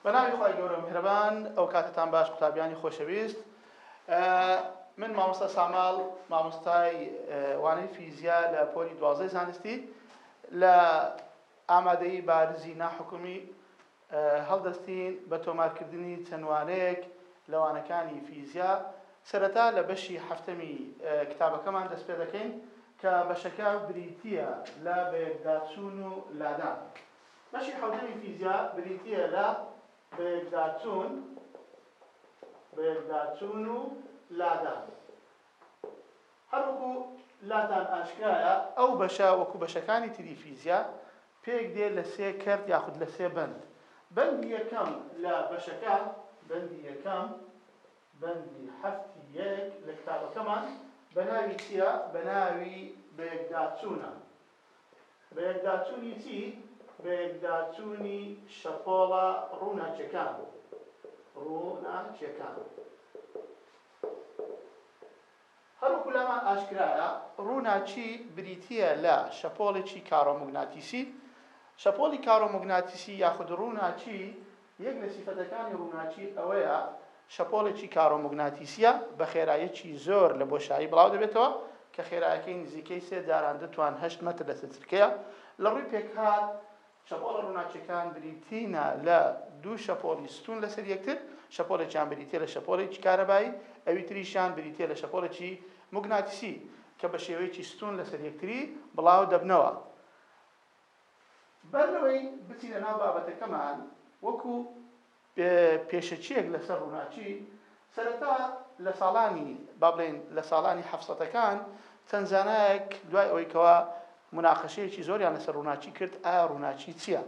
بەناوی خۆی گەورە میهرەبان ئەو کاتتان باش قوتابیانی خۆشەویست من مامۆستا ساماڵ مامۆستای وانەی فیزیا لە پۆلی دوازدەی زانستی لە ئامادەی بارزی ناحکومی هەڵدەستین بە تۆمارکردنی چەند وانەیەک لە وانەکانی فیزیا، سەرەتا لە بەشی حەفتەمی کتابەکەمان دەست پێدەکەین کە بەشەکە بریتییە لە بەیەکداچوون و لادان. بەشی حەوتەمی فیزیا بریتییە لە بەیەکداچوون، بەیەکداچوون و لادان. هەروەکو لاتان ئاشکرایە ئەو بەشە وەکو بەشەکانی تری فیزیا پێک دێ لە سێ کەرت یاخود لە سێ بەند بەندی یەکەم لە بەشەکە بەندی یەکەم بەندی حەفتی یەک لە کتابەکەمان بەناوی چیە بەناوی بەیەکداچونە بەیەکداچوونی چی؟ بەیەکداچوونی شەپۆڵە ڕووناکیەکان ڕووناکیەکان. هەروەکو لامان ئاشکرایە ڕووناکی بریتیە لە شەپۆڵێکی کارۆموگناتیسی، شەپۆڵی کارۆموگناتیسی یاخود ڕووناکی یەک لە سیفەتەکانی ڕووناکی ئەوەیە شەپۆڵێکی کارۆموگناتیسییە بە خێراییەکی زۆر لە بۆشایی بڵاو دەبێتەوە کە خێرایەکەی نزیکەی سێ جاران دو توان هەشت مەتر لەسەر چرکەیە لە ڕووی پێکهات شەپۆڵە ڕووناکییەکان بریتینە لە دو شەپۆڵی ستون لەسەر یەکتر شەپۆڵێکیان بریتییە لە شەپۆڵێکی کارەبایی ئەوی تریشیان بریتییە لە شەپۆڵێکی موگناتیسی کە بە شێوەیەکی ستون لەسەر یەکتری بڵاو دەبنەوە بەر لەوەی بچینە ناو بابەتەکەمان، وەکو پێشەکییەک لەسەر ڕووناکی، سەرەتا لە ساڵانی، با بڵێین لە ساڵانی حەفسەتەکان، چەند زانایەک دوای ئەوەی کەوا موناقەشەیەکی زۆریان لەسەر ڕووناکی کرد، ئایا ڕووناکی چییە؟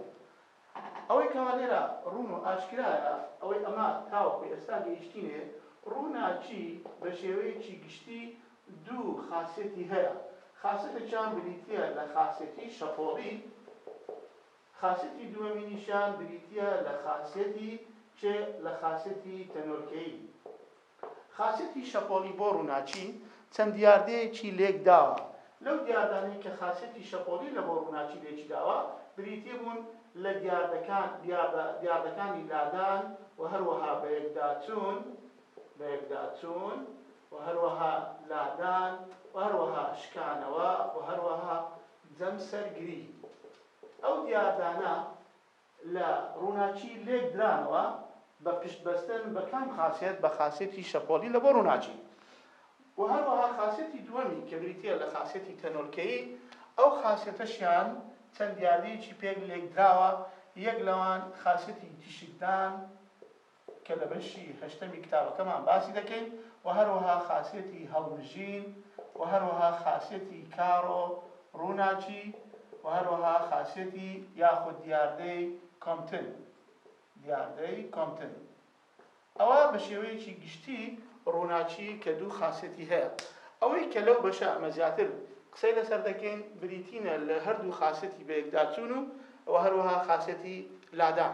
ئەوەی کەوا لێرە ڕوون و ئاشکرایە، ئەوەی ئەمە تاوەکو ئێستا گەیشتینێ، ڕووناکی بە شێوەیەکی گشتی، دوو خاسیەتی هەیە، خاسیەتێکیان بریتییە لە خاسیەتی شەپۆڵی، خاسیەتی دووەمینیشیان بریتییە لە خاسیەتی چێ؟ لە خاسیەتی تەنۆلکەیی. خاسیەتی شەپۆڵی بۆ ڕووناکی چەند دیاردەیەکی لێک داوە، لەو دیاردانەی کە خاسیەتی شەپۆڵی لە بۆ ڕووناکی لێکی داوە بریتی بوون لە دیاردەکان، دیاردە، دیاردەکانی لادان و هەروەها بەیەکداچوون، لەیەکداچوون و هەروەها لادان و هەروەها شکانەوە و هەروەها جەمسەرگری. ئەو دیاردانە لە ڕووناکی لێک درانەوە بە پشت بەستن بە کام خاسیەت؟ بە خاسیەتی شەپۆلی لە بۆ ڕووناکی. و هەروەها خاسیەتی دووەمی کە بریتییە لە خاسیەتی تەنۆلکەیی، ئەو خاسیەتەشیان چەند دیاردەیەکی پێک لێک دراوە، یەک لەوان خاسیەتی تیشکدان، کە لە بەشی هەشتەمی کتابەکەمان باسی دەکەین و هەروەها خاسیەتی هەڵمژین و هەروەها خاسیەتی کارۆ ڕووناکی و هەروەها خاسیەتی یاخود دیاردەی کۆمتن دیاردەی کۆمتن ئەوە بە شێوەیەکی گشتی ڕووناکی کە دوو خاسیەتی هەیە ئەوەی کە لەو بەشە ئەمە زیاتر قسەی لەسەر دەکەین بریتینە لە هەردوو خاسیەتی بەیەکداچوون و و هەروەها خاسیەتی لادان.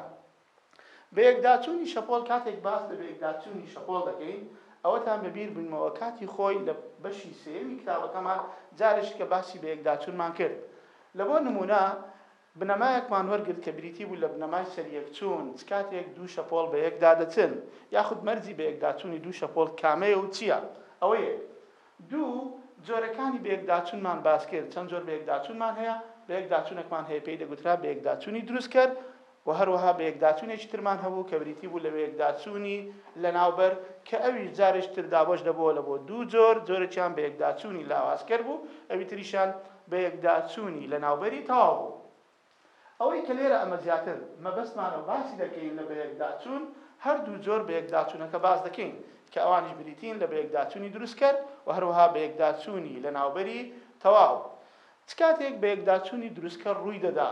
بەیەکداچوونی شەپۆڵ کاتێک باس لە بەیەکداچوونی شەپۆڵ دەکەین ئەوەتان بەبیر بنمەوە کاتی خۆی لە بەشی سێیەمی کتابەکەمان جارێکیکە باسی بەیەکداچوونمان کرد لە بۆ نموونە بنەمایەکمان وەرگرت کە بریتی بوو لە بنەمای سەریەکچوون چ کاتێک دوو شەپۆڵ بەیەکدا دەچن یاخود مەرجی بەیەکداچوونی دوو شەپۆڵ کامەیە و چییە ئەوە یەک دوو جۆرەکانی بەیەکداچوونمان باس کرد چەند جۆر بەیەکداچوونمان هەیە بەیەکداچوونەکمان هەیە پێی دەگوترا بەیەکداچوونی دروستکەر وە هەروەها بەیەکداچونێکی ترمان هەبوو کە بریتی بوو لە بەیەکداچونی لەناوبەر کە ئەویش جارێکی تر دابەش دەبۆوە لە بۆ دوو جۆر، جۆرێکیان بەیەکداچونی لاوازکەر بوو ئەوی تریشیان بەیەکداچونی لەناوبەری تەواو بوو. ئەوەی کە لێرە ئەمە زیاتر مەبەستمانە و باسی دەکەین لە بەیەکداچون هەردوو جۆر بەیەکداچونەکە باس دەکەین کە ئەوانیش بریتین لە بەیەکداچونی دروستکەر و هەروەها بەیەکداچونی لەناوبەری تەواو چ کاتێک بەیەکداچونی دروستکەر ڕووی دەدا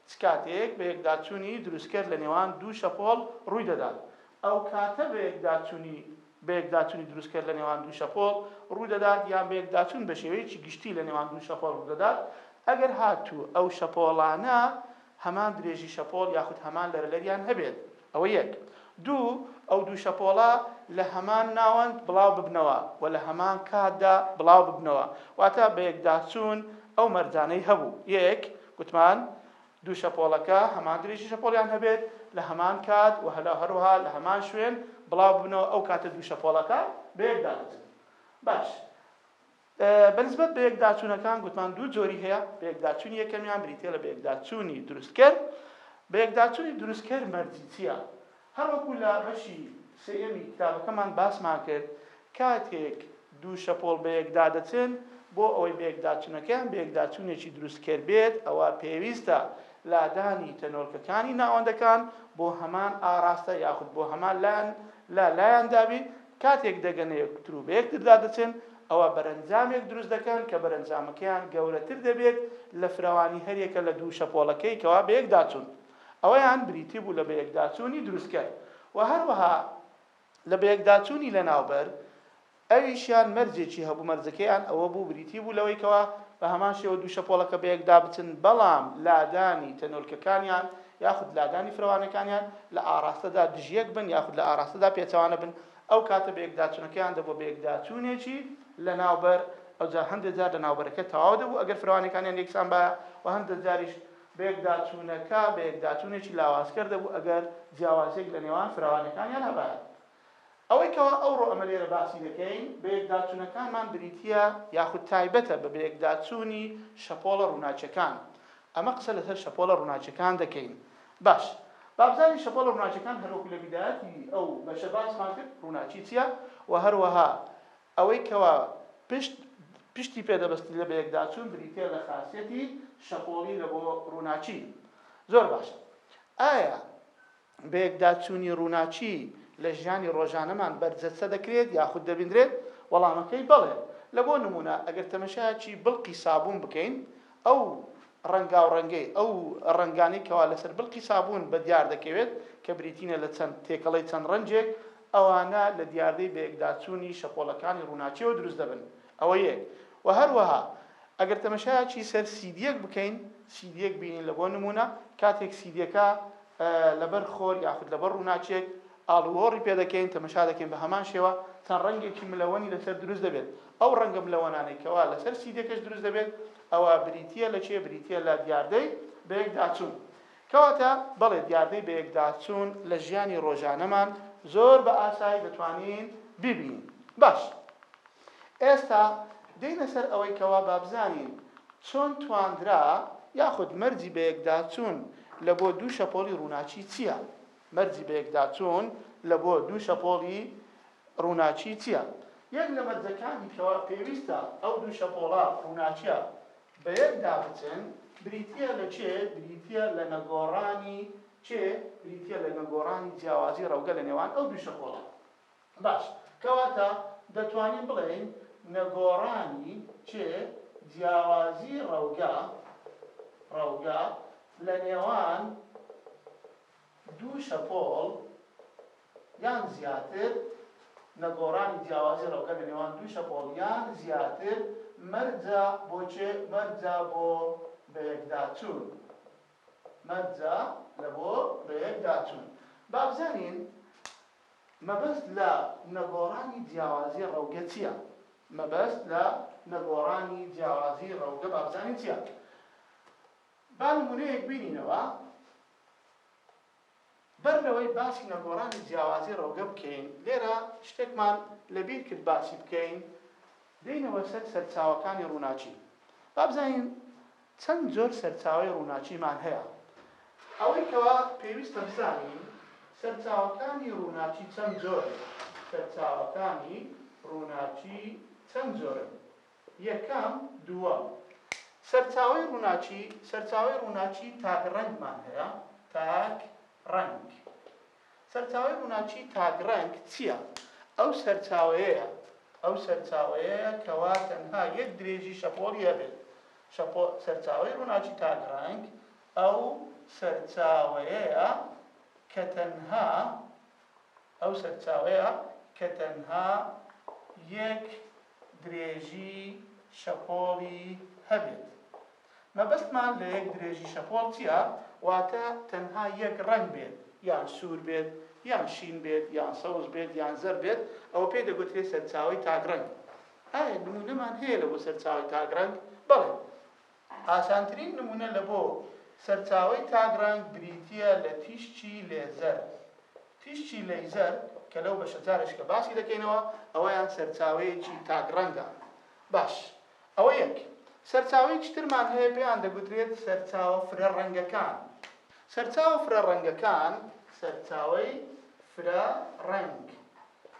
چ کاتێک بەیەکداچوونی دروستکەر لە نێوان دوو شەپۆڵ ڕووی دەدات، ئەو کاتە بەیەکداچوونی بەیەکداچوونی دروستکەر لە نێوان دوو شەپۆڵ ڕوو دەدات یان بەیەکداچوون بە شێوەیەکی گشتی لە نێوان دوو شەپۆڵ ڕوو دەدات ئەگەر هاتوو ئەو شەپۆڵانە هەمان درێژی شەپۆڵ یاخود هەمان لەرەلەریان هەبێت. ئەوە یەک. دوو، ئەو دوو شەپۆڵە لە هەمان ناوەند بڵاو ببنەوە و لە هەمان کاتدا بڵاو ببنەوە، واتە بەیەکداچوون ئەو مەرجانەی هەبوو. یەک، گوتمان دوو شەپۆڵەکە هەمان درێژی شەپۆڵیان هەبێت، لە هەمان کات و هەروەها لە هەمان شوێن بڵاو ببنەوە، ئەو کاتە دوو شەپۆڵەکە بەیەکدا دەچن. باش. بە نسبەت بەیەکداچوونەکان گوتمان دوو جۆری هەیە، بەیەکداچوونی یەکەمیان بریتییە لە بەیەکداچوونی دروستکەر، بەیەکداچوونی دروستکەر مەرجی چییە؟ هەر وەکو لە بەشی سێیەمی کتابەکەمان باسمان کرد کاتێک دوو شەپۆڵ بەیەکدا دەچن بۆ ئەوەی بەیەکداچوونەکەیان بەیەکداچوونێکی دروستکەر بێت ئەوا پێویستە لادانی تەنۆلکەکانی ناوەندەکان بۆ هەمان ئاراستە یاخود بۆ هەمان لایەن لە لایاندا بێت کاتێک دەگەنە یەکتر و بە یەکتردا دەچن، ئەوا بەرەنجامێک دروست دەکەن کە بەرەنجامەکەیان گەورەتر دەبێت لە فراوانی هەریەکە لە دوو شەپۆڵەکەی کەوا بەیەکداچوون. ئەوەیان بریتی بوو لە بەیەکداچوونی دروستکەر و هەروەها لە بەیەکداچوونی لەناوبەر، ئەویشیان مەرجێکی هەبوو، مەرجەکەیان ئەوە بوو بریتی بوو لەوەی کەوا بە هەمان شێوە دوو شەپۆڵەکە بەیەکدا بچن، بەڵام لادانی تەنۆلکەکانیان یاخود لادانی فرەوانەکانیان لە ئاڕاستەدا دژیەک بن یاخود لە ئاڕاستەدا پێچەوانە بن، ئەو کاتە بەیەکداچونەکەیان دەبوە بەیەکداچونێکی لەناوبەر، ئەوجا هەندێ جار لەناوبەرەکە تەواو دەبو ئەگەر فرەوانەکانیان یەکسان بایە و هەندێ جاریش بەیەکداچونەکە بەیەکداچونێکی لاوازکەر دەبو ئەگەر جیاوازیەک لەنێوان فرەوانەکانیان هەبایە. ئەوەی کەوا ئەوڕۆ ئەمە لێرە باسی دەکەین، بەیەکداچونەکانمان بریتیە یاخود تایبەتە بە بەیەکداچونی شەپۆڵە ڕوناکیەکان. ئەمە قسە لەسەر شەپۆڵە ڕوناکیەکان دەکەین. باش، بابزانین شەپۆڵە ڕوناکیەکان هەروەکو لە بیدایەتی ئەو بەشە باسمان کرد ڕوناکی چیە و هەروەها ئەوەی کەوا پشت پشتی پێ دەبەستین لە بەیەکداچون بریتیە لە خاسیەتی شەپۆڵی لە بۆ ڕوناکی. زۆر باشە ئایا بەیەکداچوونی ڕووناکی لە ژیانی ڕۆژانەمان بەرجەستە دەکرێت یاخود دەبیندرێت؟ وەڵامەکەی بەڵێ، لە بۆ نموونە ئەگەر تەمەشایەکی بڵقی سابوون بکەین ئەو ڕەنگاوڕەنگەی ئەو ڕەنگانەی کەوا لەسەر بڵقی سابوون بە دیار دەکەوێت کە بریتینە لە چەند تێکەڵەی چەند ڕەنجێک ئەوانە لە دیاردەی بەیەکداچوونی شەپۆڵەکانی ڕووناکیەوە دروست دەبن ئەوە یەک وە هەروەها ئەگەر تەمەشایەکی سەر سیدیەک بکەین سیدیەک بینین لە بۆ نمونە کاتێک سیدیەکە لەبەر خۆر یاخود لەبەر ڕووناچێک ئاڵوۆڕی پێ دەکەین تەمەشا دەکەین بە هەمان شێوە چەند ڕەنگێکی ملەوەنی لەسەر دروست دەبێت ئەو ڕەنگە ملەوەنانەی کەوا لەسەر سیدەکەش دروست دەبێت ئەوە بریتە لە چێ بریتە لە دیاردەی بەیەکداچوون کەواتە بەڵێ دیاردەی بەیەکداچوون لە ژیانی ڕۆژانەمان زۆر بە ئاسایی دەتوانین ببینین باش ئێستا دێینە سەر ئەوەی کەوا با بزانین چۆن تواندرا یاخود مەرجی بەیەکداچوون لە بۆ دوو شەپۆڵی ڕووناکی چییە؟ مەرجی بەیەکداچوون لە بۆ دوو شەپۆڵی ڕووناکی چییە؟ یەک لە مەرجەکانی کەوا پێویستە ئەو دوو شەپۆڵە ڕووناکییە بەیەکدا بچن بریتییە لە چێ؟ بریتییە لە نەگۆڕانی چێ؟ بریتییە لە نەگۆڕانی جیاوازی ڕەوگە لە نێوان ئەو دوو شەپۆڵە. باش کەواتە دەتوانین بڵێین نەگۆڕانی چێ جیاوازی ڕەوگە، ڕەوگە، لە نێوان دوو شەپۆڵ یان زیاتر، نەگۆڕانی جیاوازی ڕەوگە لە نێوان دوو شەپۆڵ یان زیاتر مەرجە بۆ چێ، مەرجە بۆ بەیەکداچوون، مەرجە لە بۆ بەیەکداچوون. با بزانین مەبەست لە نەگۆڕانی جیاوازی ڕەوگە چییە؟ مەبەست لە نەگۆڕانی جیاوازی ڕەوگە با بزانین چییە؟ با نموونەیەک بینینەوە، بەر لەوەی باسی نەگۆڕانی جیاوازی ڕەوگە بکەین، لێرە شتێکمان لەبیر کرد باسی بکەین، دێینەوە سەر سەرچاوەکانی ڕووناکی. با بزانین چەند جۆر سەرچاوەی ڕووناکیمان هەیە؟ ئەوەی کەوا پێویستە بزانین، سەرچاوەکانی ڕووناکی چەند جۆرن؟ سەرچاوەکانی ڕووناکی چەند جۆرن؟ یەکەم، دووەم. سەرچاوەی ڕووناکی، سەرچاوەی ڕووناکی تاک ڕەنگمان هەیە، تاک ڕەنگ. سەرچاوەی ڕووناکیی تاکڕەنگ چییە؟ ئەو سەرچاوەیەیە، ئەو سەرچاوەیەیە کەوا تەنها یەک درێژی شەپۆڵی هەبێت، شەپۆ، سەرچاوەی ڕووناکیی تاکڕەنگ ئەو سەرچاوەیەیە کە تەنها، ئەو سەرچاوەیە کە تەنها یەک درێژی شەپۆڵی هەبێت. مەبەستمان لە یەک درێژی شەپۆڵ چییە؟ واتە تەنها یەک ڕەنگ بێت، یان سوور بێت، یان شین بێت، یان سەوز بێت، یان زەرد بێت، ئەوە پێی دەگوترێت سەرچاوەی تاکڕەنگ. ئایا نموونەمان هەیە لە بۆ سەرچاوەی تاکڕەنگ؟ بەڵێ. ئاسانترین نموونە لە بۆ سەرچاوەی تاک ڕەنگ بریتییە لە تیشکی لێزەر، تیشکی لەیزەر، کە لەو بەشە جارێک کە باسی دەکەینەوە ئەوەیان سەرچاوەیەکی تاک ڕەنگە. باش ئەوە یەک سەرچاوەیەکی ترمان هەیە پێیان دەگوترێت سەرچاوە فرە ڕەنگەکان. سەرچاوە فرە ڕەنگەکان، سەرچاوەی فرە ڕەنگ،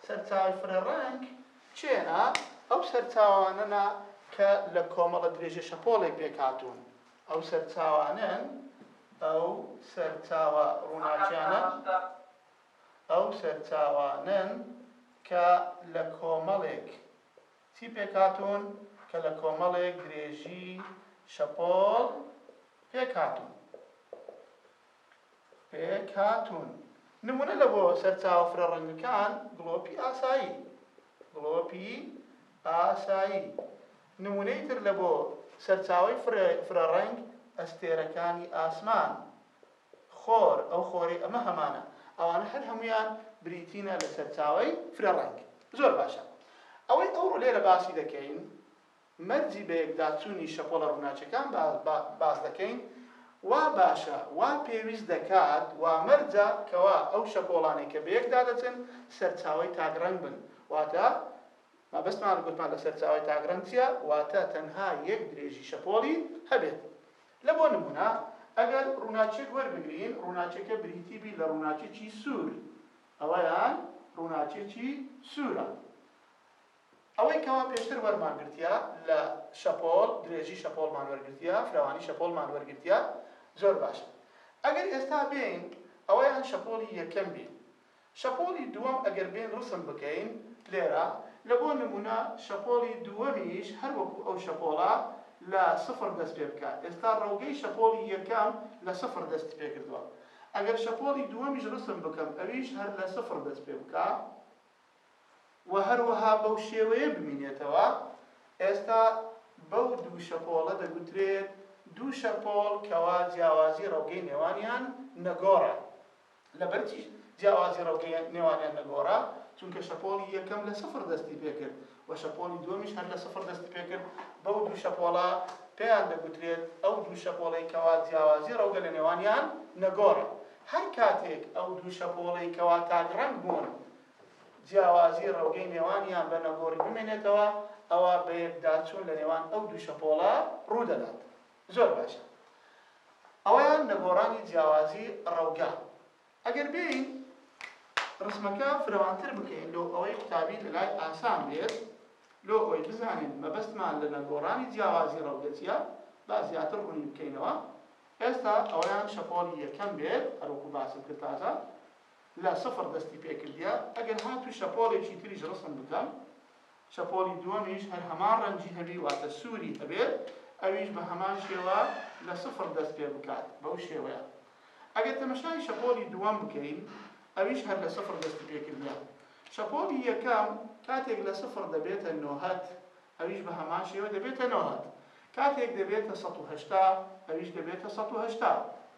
سەرچاوەی فرە ڕەنگ چێنە ئەو سەرچاوانەنا کە لە کۆمەڵە درێژە شەپۆڵێک پێکهاتوون، ئەو سەرچاوانەن، ئەو سەرچاوە ڕووناکیانەن، ئەو سەرچاوانەن کە لە کۆمەڵێک چی پێکهاتوون، کە لە کۆمەڵێک درێژی شەپۆڵ پێکهاتوون. پێک هاتوون. نموونە لە بۆ سەرچاوە فرە ڕەنگەکان، گڵۆپی ئاسایی. گڵۆپی ئاسایی. نموونەی تر لە بۆ سەرچاوەی فرە ڕەنگ، ئەستێرەکانی ئاسمان. خۆر، ئەو خۆرەی ئەمە هەمانە. ئەوانە هەر هەموویان بریتینە لە سەرچاوەی فرە ڕەنگ. زۆر باشە. ئەوەی ئەوڕۆ لێرە باسی دەکەین، مەرجی بەیەکداچوونی شەپۆڵە ڕووناکیەکان باس دەکەین، وا باشە، وا پێویست دەکات، وا مەرجە کەوا ئەو شەپۆڵانەی کە بەیەکدا دەچن سەرچاوەی تاک ڕەنگ بن، واتە مەبەستمان گوتمان لە سەرچاوەی تاک ڕەنگ چیە، واتە تەنها یەک درێژی شەپۆڵی هەبێت. لە بۆ نموونە ئەگەر ڕووناکیەک وەربگرین ڕووناکیەکە بریتی بی لە ڕووناکیەکی سوور، ئەوەیان ڕووناکیەکی سوورە، ئەوەی کەوا پێشتر وەرمان گرتیە لە شەپۆڵ درێژی شەپۆڵمان وەرگرتیە فراوانی شەپۆڵمان وەرگرتیە زۆر باشە ئەگەر ئێستا بێین ئەوە یان شەپۆڵی یەکەم بین شەپۆڵی دووەم ئەگەر بێین ڕسم بکەین لێرە لە بۆ نمونە شەپۆڵی دووەمیش هەر وەکو ئەو شەپۆڵە لە سفڕ دەست پێ بکا ئێستا ڕەوگەی شەپۆڵی یەکەم لە سفڕ دەستی پێ کردوە ئەگەر شەپۆڵی دووەمیش ڕسم بکەم ئەویش هەر لە سفڕ دەست پێ بکا و هەروەها بەو شێوەیە بمینێتەوە، ئێستا بەو دوو شەپۆڵە دەگوترێت دوو شەپۆڵ کەوا جیاوازی ڕەوگەی نێوانیان نەگۆڕە، لەبەر چی جیاوازی ڕەوگەی نێوانیان نەگۆڕە؟ چونکە شەپۆڵی یەکەم لە سفر دەستی پێکرد و شەپۆڵی دووەمیش هەر لە سفر دەستی پێکرد، بەو دوو شەپۆڵە پێیان دەگوترێت ئەو دوو شەپۆڵەی کەوا جیاوازی ڕەوگە لە نێوانیان نەگۆڕە، هەر کاتێک ئەو دوو شەپۆڵەی کەوا تاک ڕەنگ بوون، جیاوازی ڕەوگەی نێوانیان بە نەگۆڕی بمێنێتەوە، ئەوا بەیەکداچوون لە نێوان ئەو دوو شەپۆڵە ڕوو دەدات. زۆر باشە. ئەوەیان نەگۆڕانی جیاوازی ڕەوگە. ئەگەر بێین ڕسمەکە فرەوانتر بکەین لۆ ئەوەی قوتابی لە لای ئاسان بێت، لۆ ئەوەی بزانین مەبەستمان لە نەگۆڕانی جیاوازی ڕەوگە چییە، با زیاتر ڕوونی بکەینەوە. ئێستا ئەوەیان شەپۆڵی یەکەم بێت، هەروەکو باسم کرد تازە. لە سفر دەستی پێکردیە ئەگەر هاتوو شەپۆڵێکی تریش ڕسم بکەم شەپۆڵی دووەمیش هەر هەمان ڕەنگی هەبی واتە سووری هەبێت ئەویش بە هەمان شێوە لە سفر دەست پێ بکات بەو شێوەیە ئەگەر تەمەشای شەپۆڵی دووەم بکەین ئەویش هەر لە سفر دەستی پێکردیە شەپۆڵی یەکەم کاتێک لە سفر دەبێتە نۆهەت ئەویش بە هەمان شێوە دەبێتە نۆهەت کاتێک دەبێتە سەد و هەشتا ئەویش دەبێتە سەد و هەشتا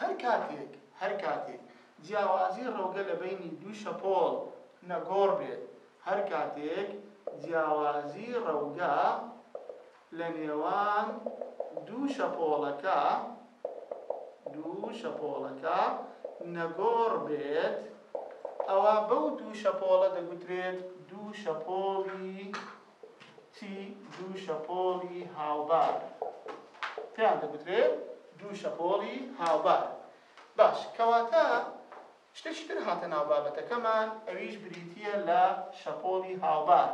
هەر کاتێک هەر کاتێک جیاوازی ڕەوگە لە بەینی دوو شەپۆڵ نەگۆڕ بێت هەر کاتێک جیاوازی ڕەوگە لە نێوان دوو شەپۆڵەکە دوو شەپۆڵەکە نەگۆڕ بێت ئەوا بەو دوو شەپۆڵە دەگوترێت دوو شەپۆڵی تی دوو شەپۆڵی هاوبار پێیان دەگوترێ دوو شەپۆڵی هاوبار باش کەواتە شتێکی تر هاتە ناو بابەتەکەمان ئەویش بریتییە لە شەپۆڵی هاوبار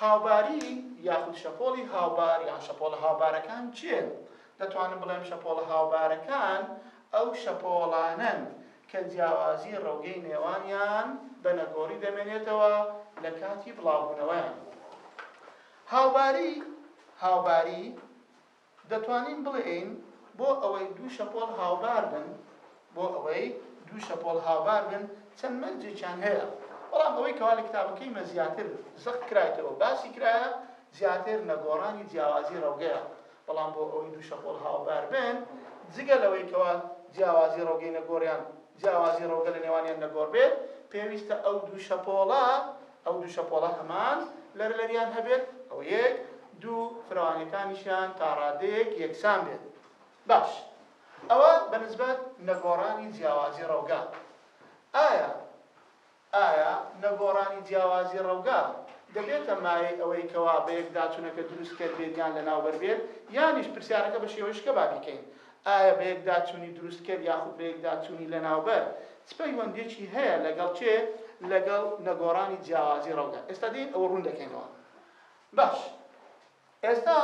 هاوباری یاخود شەپۆڵی هاوبار یان شەپۆڵە هاوبارەکان چێن دەتوانم بڵێم شەپۆڵە هاوبارەکان ئەو شەپۆڵانەن کە جیاوازی ڕەوگەی نێوانیان بە نەگۆڕی دەمێنێتەوە لە کاتی بڵاوبوونەوەیان. هاوباری، هاوباری، دەتوانین بڵێین بۆ ئەوەی دوو شەپۆڵ هاوبار بن، بۆ ئەوەی دوو شەپۆڵ هاوبار بن چەند مەرجێکیان هەیە، بەڵام ئەوەی کەوا لە کتابەکەی مە زیاتر زەق کرایتەوە باسی کرایە زیاتر نەگۆڕانی جیاوازی ڕەوگەیە، بەڵام بۆ ئەوەی دوو شەپۆل هاوبار بن، جگە لەوەی کەوا جیاوازی ڕەوگەی نەگۆریان جیاوازی ڕەوگە لە نێوانیان نەگۆر بێت، پێویستە ئەو دوو شەپۆڵە ئەو دوو شەپۆڵە هەمان لەرەلەریان هەبێت، ئەوە یەک، دوو، فرەوانیەکانیشیان تا ڕادەیەک یەکسان بێت. باش، ئەوە بە نسبەت نەگۆڕانی جیاوازی ڕەوگە. ئایا. ئایا نەگۆڕانی جیاوازی ڕەوگە دەبێتە مایەی ئەوەی کەوا بەیەکداچونەکە دروستکەر بێت یان لەناوبەر بێت؟ یانیش پرسیارەکە بە شێوەی شکە با بیکەین، ئایا بەیەکداچونی دروستکەر یاخود بەیەکداچونی لەناوبەر چ پەیوەندیەکی هەیە لەگەڵ چێ؟ لەگەڵ نەگۆڕانی جیاوازی ڕەوگە. ئێستا دێین ئەوە ڕون دەکەینەوە. باش ئێستا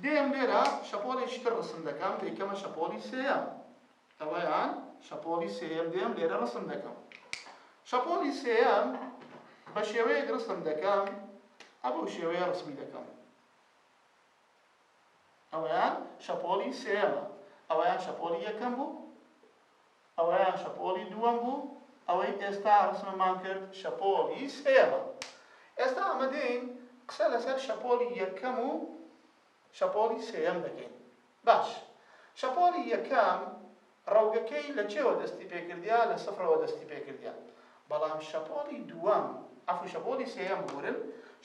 دێم لێرە شەپۆڵێکی تر ڕسم دەکەم دەیکەمە شەپۆڵی سێیەم. ئەوەیان شەپۆڵی سێیەم دێم لێرە ڕسم دەکەم شەپۆڵی سێیەم بە شێوەیەک ڕسم دەکەم ئەبەو شێوەیە ڕسمی دەکەم ئەوەیان شەپۆڵی سێەمە ئەوەیان شەپۆلی یەکەم بوو ئەوەیان شەپۆلی دووەم بوو ئەوەی ئێستا ڕسممان کرد شەپۆلی سێەمە ئێستا ئەمەدەین قسە لەسەر شەپۆلی یەکەم و شەپۆڵی سێیەم دەکەین باش. شەپۆڵی یەکەم ڕەوگەکەی لە چێوە دەستی پێ کردیە لە سفرەوە دەستی پێ کردیە بەڵام شەپۆڵی دووەم عەفو شەپۆڵی سێیەم ببورن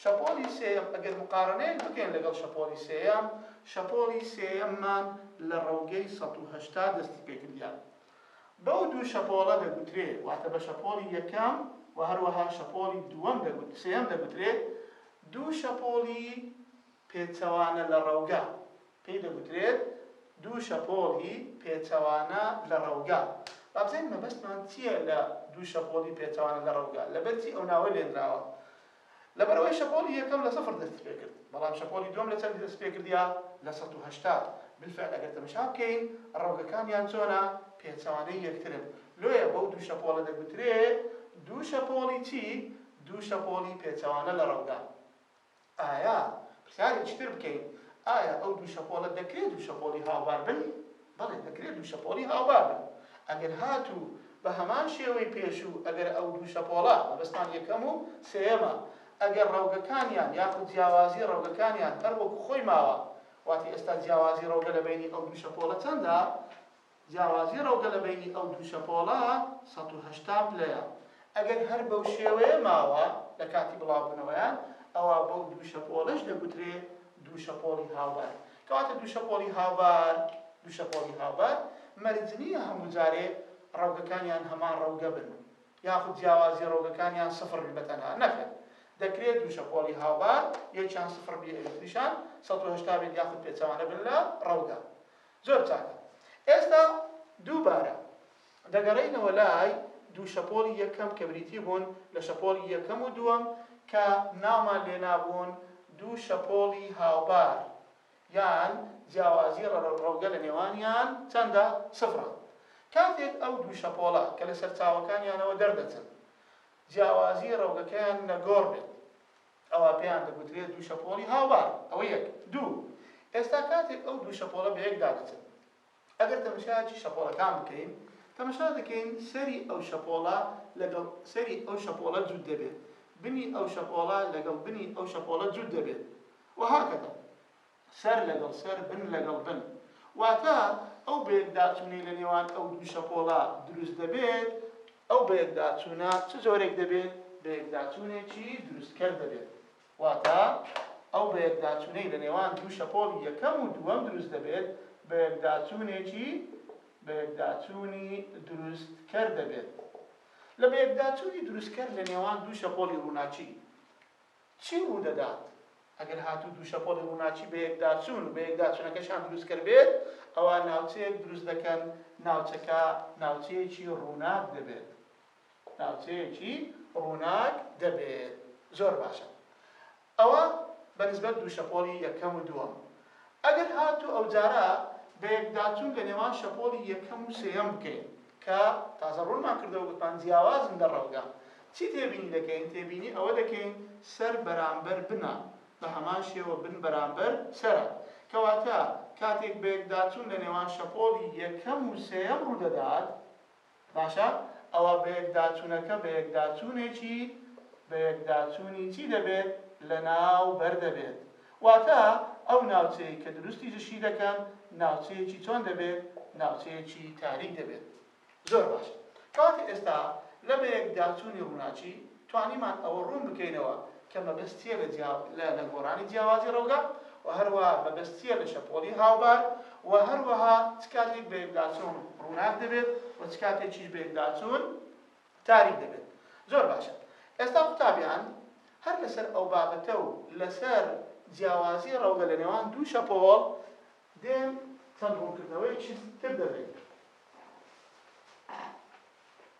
شەپۆڵی سێیەم ئەگەر مقاڕەنەیەک بکەین لەگەڵ شەپۆڵی سێیەم شەپۆڵی سێیەممان لە ڕەوگەی سەد و هەشتا دەستی پێ کردیە بەو دوو شەپۆڵە دەگوترێ واتە بە شەپۆڵی یەکەم و هەروەها شەپۆڵی دووەم دەگوت سێیەم دەگوترێ دوو شەپۆڵی پێچەوانە لە ڕەوگە، پێی دەگوترێت دوو شەپۆڵی پێچەوانە لە ڕەوگە. با بزانین مەبەستمان چییە لە دوو شەپۆڵی پێچەوانە لە ڕەوگە، لەبەرچی ئەو ناوە لێنراوە؟ لەبەرئەوەی شەپۆڵی یەکەم لە سفر دەستیپێکرد، بەڵام شەپۆڵی دووەم لە چەندی دەستیپێکردیە؟ لە سەد و هەشتا. بالفعل ئەگەر تەمشا بکەین ڕەوگەکانیان چۆنە؟ پێچەوانەی یەکترن. لۆیە بەو دوو شەپۆڵە دەگوترێت دوو شەپۆڵی چی؟ دوو شەپۆڵی پێچەوانە لە ڕەوگە. ئایا پرسیارێکی تر بکەین، ئایا ئەو دوو شەپۆڵە دەکرێت دوو شەپۆڵی هاوبار بن؟ بەڵێ دەکرێت دوو شەپۆڵی هاوبار بن. ئەگەر هاتوو بە هەمان شێوەی پێشوو، ئەگەر ئەو دوو شەپۆڵە، مەبەستمان یەکەم و سێیەمە، ئەگەر ڕەوگەکانیان یاخود جیاوازی ڕەوگەکانیان هەر وەکو خۆی ماوە، واتە ئێستا جیاوازی ڕەوگە لە بەینی ئەو دوو شەپۆڵە چەندە؟ جیاوازی ڕەوگە لە بەینی ئەو دوو شەپۆڵە سەد و هەشتا پلەیە، ئەگەر هەر بەو شێوەیە ماوە لە کاتی بڵاوبوونەوەیان، ئەوا بەو دوو شەپۆڵەش دەگوترێ دوو شەپۆڵی هاوبار. کەواتە دوو شەپۆڵی هاوبار، دوو شەپۆڵی هاوبار مەرج نییە هەموو جارێ ڕەوگەکانیان هەمان ڕەوگە بن، یاخود جیاوازی ڕەوگەکانیان سفر بێ بە تەنها، نەخێر دەکرێ دوو شەپۆڵی هاوبار یەکیان سفر بێ یەکتریشان سەد و هەشتا بێت یاخود پێچەوانە بن لە ڕەوگە. زۆر چاکە ئێستا دووبارە دەگەڕێینەوە لای دوو شەپۆڵی یەکەم کە بریتی بوون لە شەپۆڵی یەکەم و دووەم کە ناومان لێنابوون دوو شەپۆڵی هاوبار یان جیاوازی ڕەوگە لە نێوانیان چەندە؟ سفرە کاتێک ئەو دوو شەپۆڵە کە لە سەرچاوەکانیانەوە دەردەچن جیاوازی ڕەوگەکەیان نەگۆڕ بێت ئەوا پێیان دەگوترێت دوو شەپۆڵی هاوبار. ئەوە یەک. دوو، ئێستا کاتێک ئەو دوو شەپۆڵە بەیەکدا دەچن، ئەگەر تەمەشایەکی شەپۆڵەکان بکەین، تەمەشا دەکەین سەری ئەو شەپۆڵە لەگەڵ سەری ئەو شەپۆڵە جووت دەبێت، بنی ئەو شەپۆڵە لەگەڵ بنی ئەو شەپۆڵە جووت دەبێت. وهكذا. سەر لەگەڵ سەر، بن لەگەڵ بن. واتە ئەو بەیەکداچوونەی لە نێوان ئەو دوو شەپۆڵە دروست دەبێت، ئەو بەیەکداچوونە چ جۆرێک دەبێت؟ بەیەکداچوونێکی دروستکەر دەبێت. واتە ئەو بەیەکداچوونەی لە نێوان دوو شەپۆڵی یەکەم و دووەم دروست دەبێت، بەیەکداچوونێکی بەیەکداچوونی دروستکەر دەبێت. لە بەیەکداچوونی دروستکەر لە نێوان دوو شەپۆڵی ڕووناکی، چی ڕوودەدات؟ ئەگەر هاتوو دوو شەپۆلی ڕووناکی بەیەکداچوون و بەیەکداچوونەکەشیان دروستکەر بێت، ئەوا ناوچەیەک دروست دەکەن، ناوچەکە ناوچەیەکی ڕووناک دەبێت. ناوچەیەکی ڕووناک دەبێت. زۆر باشە. ئەوە بەنسبەت دوو شەپۆلی یەکەم و دووەم. ئەگەر هاتوو ئەوجارە بەیەکداچوون لە نێوان شەپۆڵی یەکەم و سێیەم بکەین کە تازە ڕوونمان کردەوە گوتمان جیاوازن لە ڕەوگە چی تێبینی دەکەین تێبینی ئەوە دەکەین سەر بەرامبەر بنە بە هەمان شێوە بن بەرامبەر سەرە کەواتە کاتێک بەیەکداچوون لە نێوان شەپۆڵی یەکەم و سێیەم ڕوودەدات باشە ئەوا بەیەکداچونەکە بەیەکداچونێکی بەیەکداچونی چی دەبێت لەناو بەر دەبێت واتە ئەو ناوچەی کە دروستی جشی دەکەن ناوچەیەکی چۆن دەبێت ناوچەیەکی تاریک دەبێت زۆر باش کەواتە ئێستا لە بەیەکداچونی ڕوناکی توانیمان ئەوە ڕوون بکەینەوە کە مەبەستییە لە جیا لە نەگۆڕانی جیاوازی ڕەوگە و هەروەها مەبەستییە لە شەپۆڵی هاوبار و هەروەها چ کاتێک بەیەکداچوون ڕووناک دەبێت و چ کاتێکیش بەیەکداچوون تاریک دەبێت. زۆر باشە ئێستا قوتابیان هەر لەسەر ئەو بابەتە و لەسەر جیاوازی ڕەوگە لە نێوان دوو شەپۆڵ دێن چەند ڕوونکردنەوەیەکی تر دەدەین.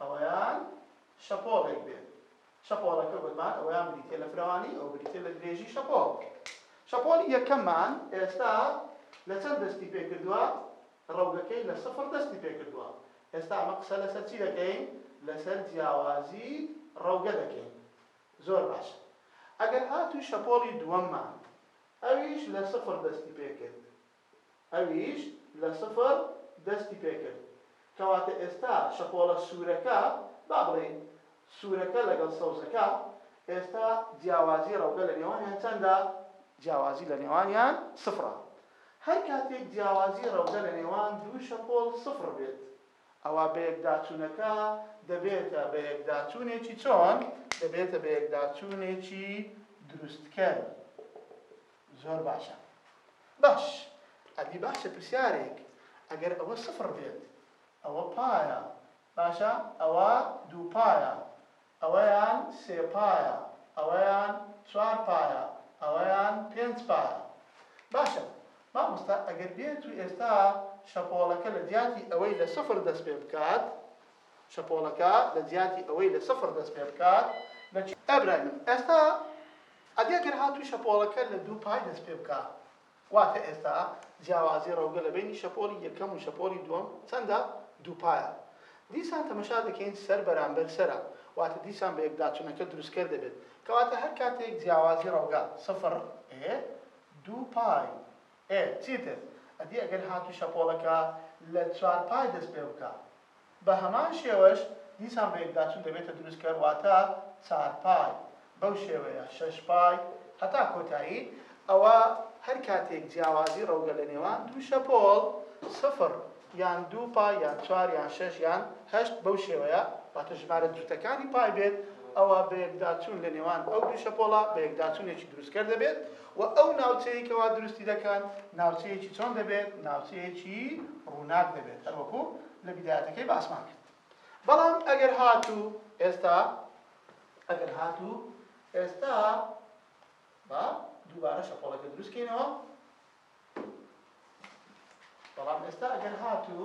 ئەوەیان شەپۆڵێک بێت شەپۆڵەکە گوتمان ئەوەیان بریتە لە فرەوانی ئەو بریتە لە درێژی شەپۆڵ شەپۆڵی یەکەممان ئێستا لە چەند دەستی پێ کردووە ڕەوگەکەی لە سفر دەستی پێ کردووە ئێستا ئەمە قسە لەسەر چی دەکەین لەسەر جیاوازی ڕەوگە دەکەین زۆر باش ئەگەر هاتوو شەپۆڵی دووەممان ئەویش لە سفر دەستی پێ کرد ئەویش لە سفر دەستی پێکرد کەواتە ئێستا شەپۆڵە سوورەکە با بڵێین سوورەکە لەگەڵ سەوزەکە ئێستا جیاوازی ڕەوگە لە نێوانیان چەندە؟ جیاوازی لە نێوانیان سفرە هەر کاتێک جیاوازی ڕەوگە لە نێوان دوو شەپۆڵ سفر بێت ئەوا بەیەکداچوونەکە دەبێتە بەیەکداچوونێکی چۆن؟ دەبێتە بەیەکداچوونێکی دروستکەر. زۆر باشە باش ئەدی باشە پرسیارێک ئەگەر ئەوە سفڕ بێت ئەوە پایە باشە ئەوە دوو پایە ئەوەیان سێ پایە ئەوەیان چوار پایە ئەوەیان پێنج پایە باشە مامۆستا ئەگەر بێت و ئێستا شەپۆڵەکە لە جیاتی ئەوەی لە سفڕ دەست پێ بکات شەپۆڵەکە لە جیاتی ئەوەی لە سفر دەست پێ بکات لە. ئەبراهیم، ئێستا ئەدی ئەگەر هاتوو شەپۆڵەکە لە دوو پای دەست پێ بکا واتە ئێستا جیاوازی ڕەوگە لە بەینی شەپۆڵی یەکەم و شەپۆڵی دووەم چەندە دوو پایە دیسان تەمەشا دەکەین سەر بەرامبەر سەرە واتە دیسان بە یەکداچونەکە دروستکەر دەبێت کەواتە هەر کاتێک جیاوازی ڕەوگە سفر ئێ دوو پای ئێ چیتر ئەدی ئەگەر هاتوو شەپۆڵەکە لە چوار پای دەست پێ بکا بە هەمان شێوەش دیسان بە یەکداچوون دەبێتە دروستکەر واتە چار پای بەو شێوەیە شەش پای هەتا کۆتایی ئەوە هەر کاتێک جیاوازی ڕەوگە لە نێوان دوو شەپۆڵ سفر یان دوو پای یان چوار یان شەش یان هەشت بەو شێوەیە واتە ژمارە جووتەکانی پای بێت ئەوە بە یەکداچوون لە نێوان ئەو دوو شەپۆڵە بە یەکداچوونێکی دروستکەر دەبێت وە ئەو ناوچەیەی کەوا دروستی دەکەن ناوچەیەکی چۆن دەبێت ناوچەیەکی ڕووناک دەبێت هەروەکو لە بیدایەتەکەی باسمان کرد بەڵام ئەگەر هاتوو ئێستا ئەگەر هاتوو ئێستا با دووبارە شەپۆڵەکە دروستکەینەوە بەڵام ئێستا ئەگەر هات و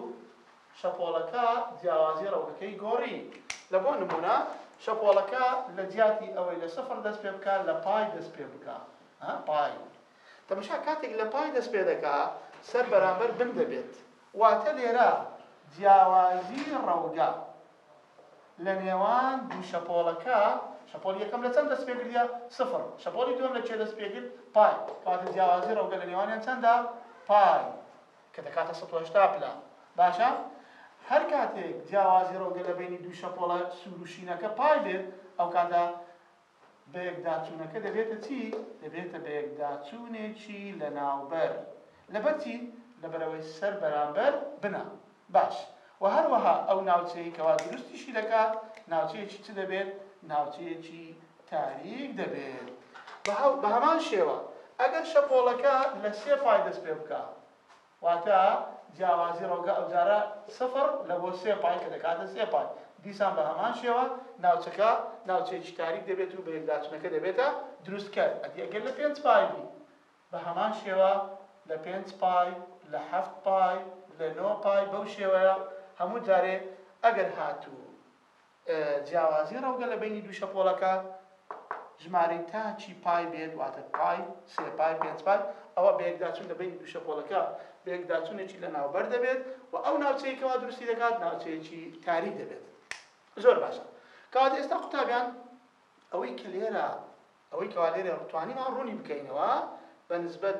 شەپۆڵەکە جیاوازی ڕەوتەکەی گۆڕی لە بۆ نمونە شەپۆڵەکە لە جیاتی ئەوەی لە سفر دەست پێ بکە لە پای دەست پێ بکە پای تەمەشا کاتێک لە پای دەست پێ دەکا سەر بەرامبەر بن دەبێت واتە لێرە جیاوازی ڕەوگە لە نێوان دوو شەپۆڵەکە، شەپۆڵی یەکەم لە چەند دەست پێ گرت؟ سفر. شەپۆڵی دووەم لە کوێ دەست پێ گرت؟ پای. کەواتە جیاوازی ڕەوگە لە نێوانیان چەندە؟ پای. کە دەکاتە سەد و هەشتا پلە. باشە؟ هەر کاتێک جیاوازی ڕەوگە لە بەینی دوو شەپۆڵە سوور و شینەکە پای بێت، ئەو کاتە بەیەکداچوونەکە دەبێتە چی؟ دەبێتە بەیەکداچوونێکی لەناوبەر. لەبەر چی؟ لەبەرئەوەی سەر بەرامبەر بنە. باش. وە هەروەها ئەو ناوچەیەی کەوا دروستیشی دەکات، ناوچەیەکی چ دەبێت؟ ناوچەیەکی تاریک دەبێت. بەهەمان شێوە، ئەگەر شەپۆڵەکە لە سێ پای دەست پێبکات، واتە جیاوازی ڕەوگە ئەوجارە سفر لە بۆ سێ پای کە دەکاتە سێ پای، دیسان بە هەمان شێوە ناوچەکە ناوچەیەکی تاریک دەبێت و بەیەکداچونەکە دەبێتە دروستکەر، ئەدی ئەگەر لە پێنج پای بی بە هەمان شێوە لە پێنج پای لە حەفت پای لە نۆ پای بەو شێوەیە هەموو جارێ ئەگەر هاتوو. جیاوازی ڕەوگە لە بەینی دوو شەپۆڵەکە ژمارەی تاکی پای بێت واتە پای، سێ پای، پێنج پای، ئەوا بەیەکداچوون لە بەینی دوو شەپۆڵەکە بەیەکداچوونێکی لەناوبەر دەبێت و ئەو ناوچەیەی کەوا دروستی دەکات ناوچەیەکی تاریک دەبێت. زۆر باشە کەواتە ئێستا قوتابیان ئەوەی کە لێرە ئەوەی کەوا لێرە توانیمان ڕوونی بکەینەوە بە نسبەت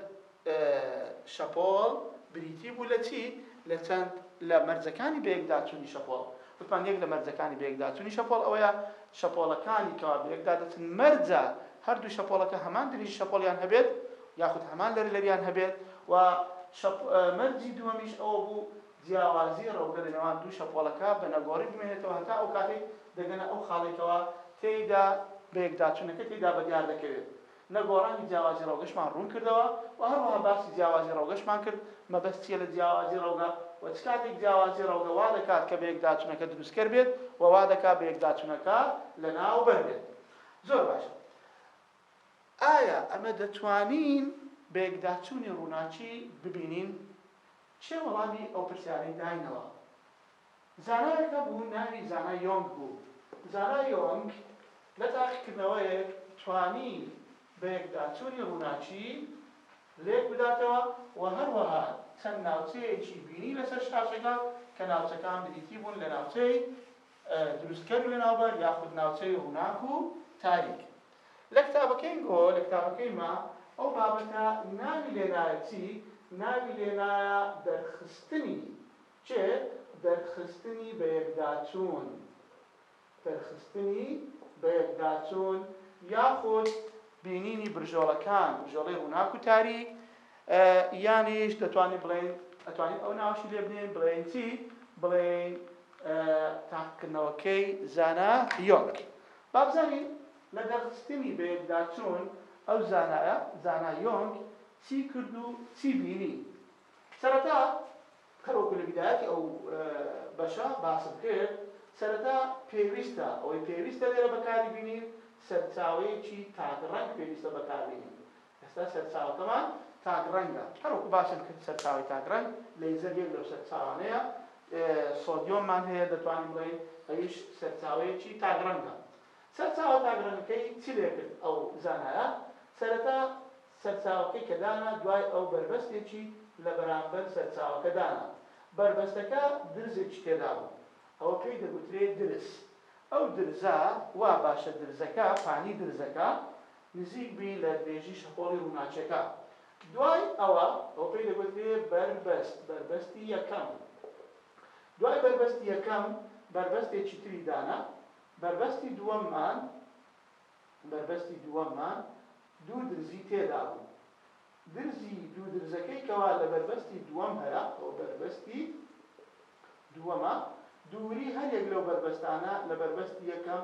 شەپۆڵ بریتی بوو لە چی؟ لە چەند لە مەرجەکانی بەیەکداچوونی شەپۆڵ وتمان یەک لە مەرجەکانی بەیەکداچوونی شەپۆڵ ئەوەیە شەپۆڵەکانی کەوا بەیەکدا دەچن مەرجە هەردوو شەپۆڵەکە هەمان درێژی شەپۆڵیان هەبێت یاخود هەمان لەرەلەریان هەبێت و مەرجی دووەمیش ئەوە بوو جیاوازی ڕەوگە لە نێوان دوو شەپۆڵەکە بە نەگۆڕی بمێنێتەوە هەتا ئەو کاتەی دەگەنە ئەو خاڵەی کەوا تێیدا بەیەکداچونەکە تێیدا بەدیار دەکەوێت. نەگۆڕانی جیاوازی ڕەوگەشمان ڕوون کردەوە و هەروەها باسی جیاوازی ڕەوگەشمان کرد، مەبەست چیە لە جیاوازی ڕەوگە و چ کاتێک جیاوازی ڕەوگە وا دەکات کە بەیەکداچونەکە دروستکەر بێت و وا دەکات بەیەکداچونەکە لەناوبەر بێت. زۆر باشە ئایا ئەمە دەتوانین بەیەکداچونی ڕوناکی ببینین چێ وەڵامی ئەو پرسیارەی داینەوە. زانایەک هەبوو ناوی زانا یۆنگ بوو. زانا یۆنگ لە تاقیکردنەوەیەک توانی بەیەکداچوونی ڕووناکی لێک بداتەوە و هەروەها چەند ناوچەیەکی بینی لەسەر شاشەکە کە ناوچەکان بریتی بوون لە ناوچەی، دروستکەر و لەناوبەر یاخود ناوچەی ڕووناک و تاریک. لە کتابەکەی گۆ، لە کتابەکەی ما، ئەو بابەتە ناوی لێنایە چی؟ ناوی لێنایە دەرخستنی چ؟ دەرخستنی بەیەکداچوون، دەرخستنی بەیەکداچوون یاخود بینینی برژۆڵەکان، برژۆڵەی ڕووناک و تاریک، یانیش دەتوانین بڵێین ئەتوانین ئەو ناوەشی لێ بنێین بڵێین چی بڵێین تاقکردنەوەکەی زانا یۆنگ با بزانین لە دەرخستنی بەیەکداچوون ئەو زانایە زانا یۆنگ چی کرد و چی بینی سەرەتا هەروەکو لە بیدایەتی ئەو بەشە باسم کرد سەرەتا پێویستە ئەوەی پێویستە لێرە بەکاری بینین سەرچاوەیەکی تاک ڕەنگ پێویستە بەکاربینین ئێستا سەرچاوەکەمان تاک ڕەنگە، هەروەکو باسم کرد سەرچاوەی تاک ڕەنگ لەیزەر یەک لەو سەرچاوانەیە، سۆدیۆممان هەیە دەتوانین بڵێین ئەویش سەرچاوەیەکی تاک ڕەنگە. سەرچاوە تاک ڕەنگەکەی چی لێ کرد ئەو زانایە؟ سەرەتا سەرچاوەکەی کە دانا دوای ئەو بەربەستێکی لە بەرامبەر سەرچاوەکە دانا، بەربەستەکە درزێکی تێدا بوو ئەوە پێی دەگوترێ درز، ئەو درزە وا باشە درزەکە پانی درزەکە نزیک بی لە درێژی شەپۆڵی ڕووناکیەکە دوای ئەوە ئەوە پێی دەگوترێ بەربەست بەربەستی یەکەم دوای بەربەستی یەکەم بەربەستێکی تری دانە بەربەستی دووەممان بەربەستی دووەممان دوو درزی تێدا بوو درزی دوو درزەکەی کەوا لە بەربەستی دووەم هەرە ئەوە بەربەستی دووەمە دووری هەریەک لەو بەربەستانە لە بەربەستی یەکەم